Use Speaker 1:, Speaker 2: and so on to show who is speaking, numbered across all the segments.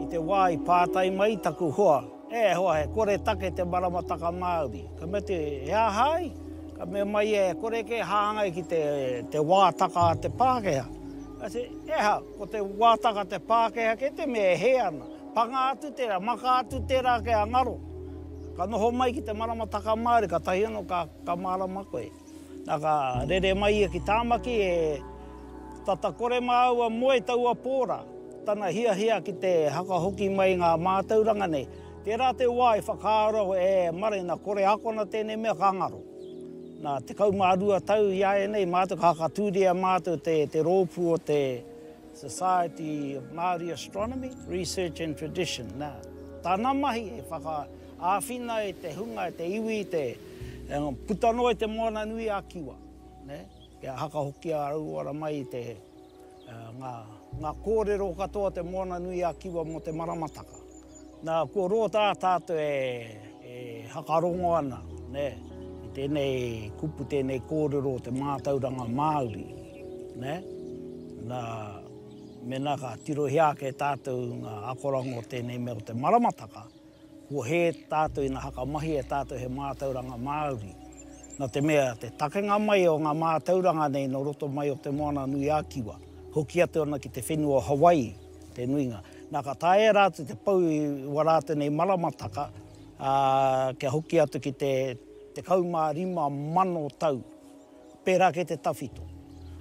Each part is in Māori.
Speaker 1: I te wā i pātai mai taku hoa, E hoa, he kore take te maramataka Māori. Ka mea te, He aha ai? Ka mea mai ia, E kore kē hāngai ki te, te wātaka a te Pākehā. I said, E aha, ko te wātaka a te Pākehā kē te mea e hē ana. Panga atu tērā, maka atu tērā kia ngaro. Ka noho mai ki te maramataka Māori, katahi anō ka, ka mārama koe. Na ka rere mai ia ki Tamaki e tata kore māua moe taua pō ra, tana hiahia ki te hakahoki mai ngā mātauranga nei, tērā te wā i whakaaro e Mare na kore akona tēnei mea ka ngaro. Na 12 tau i a e nei mātou ka hakatūria mātou te rōpū o te. Society of Māori Astronomy, Research and Tradition, nā, tana mahi e whakaāwhina e te hunga, e te iwi, i te puta noa i te moana nui a Kiwa, nē, kia hakahokia rauora mai i te, ngā, ngā kōrero katoa o te moana nui a Kiwa mō te maramataka. Nā, kua roa tā tātou e whakarongo ana, nē, i tēnei kupu, tēnei kōrero o te mātauranga Māori, nē. Nā, mēnā ka tirohia ake tātou ngā akoranga o tēnei mea o te maramataka, kua hē tātou ina whakamahi e tātou he mātauranga Māori. Nā te mea, te takenga mai o ngā mātauranga nei nō roto mai o Te Moana-nui-a-Kiwa, hoki atu ana ki te whenua o Hawaii, te nuinga. Nā, ka taea rātou te pau i ua rātou nei maramataka, ā, kia hoki atu ki te 15,000 tau, pērā kei te tawhito.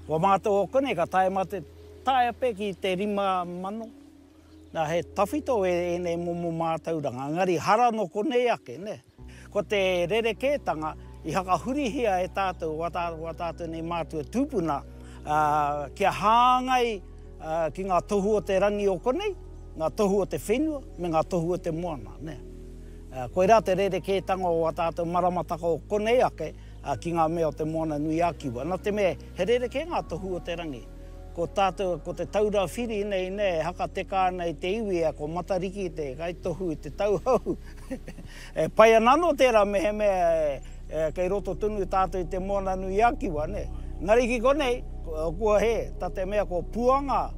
Speaker 1: Kua mātau ō konei, ka taea mā te taea pea ki te 5,000. Nā, he tawhito ēnei momo mātauranga, engari hara nō konei ake, nē. Ko te rerekētanga i whakahurihia e tātou o ā tātou nei mātua tūpuna kia hāngai ki ngā tohu o te rangi o konei, ngā tohu o te whenua me ngā tohu o te moana. Koirā te rerekētanga o ā tātou maramataka o konei ake ki ngā mea o Te Moana-nui-a-Kiwa. Nā te mea he rerekē ngā tohu o te rangi. Ko tātou, ko Te Taura Whiri nei e haka teka ana i te iwi, ko Matariki te kaitohu i te tauhou. E pai ana anō tērā mehemea e kei roto tonu tātou i te Moana-nui-a-Kiwa, nē? Engari ki konei, kua hē, tā te mea ko Puanga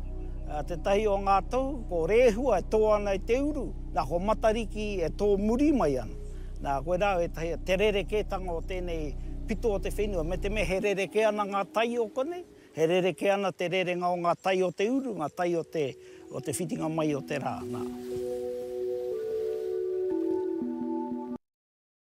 Speaker 1: tētahi o ngā tohu, ko Rehua e tō ana i te uru, nā, ko Matariki e tō muri mai ana. Nā, koirā au ētahi, te rerekētanga o tēnei pito o te whenua, me te mea he rerekē ana ngā tai o konei, E rerekē ana te rerenga o ngā tai o te uru, ngā tai o te, o te whitinga mai o te rā, nā.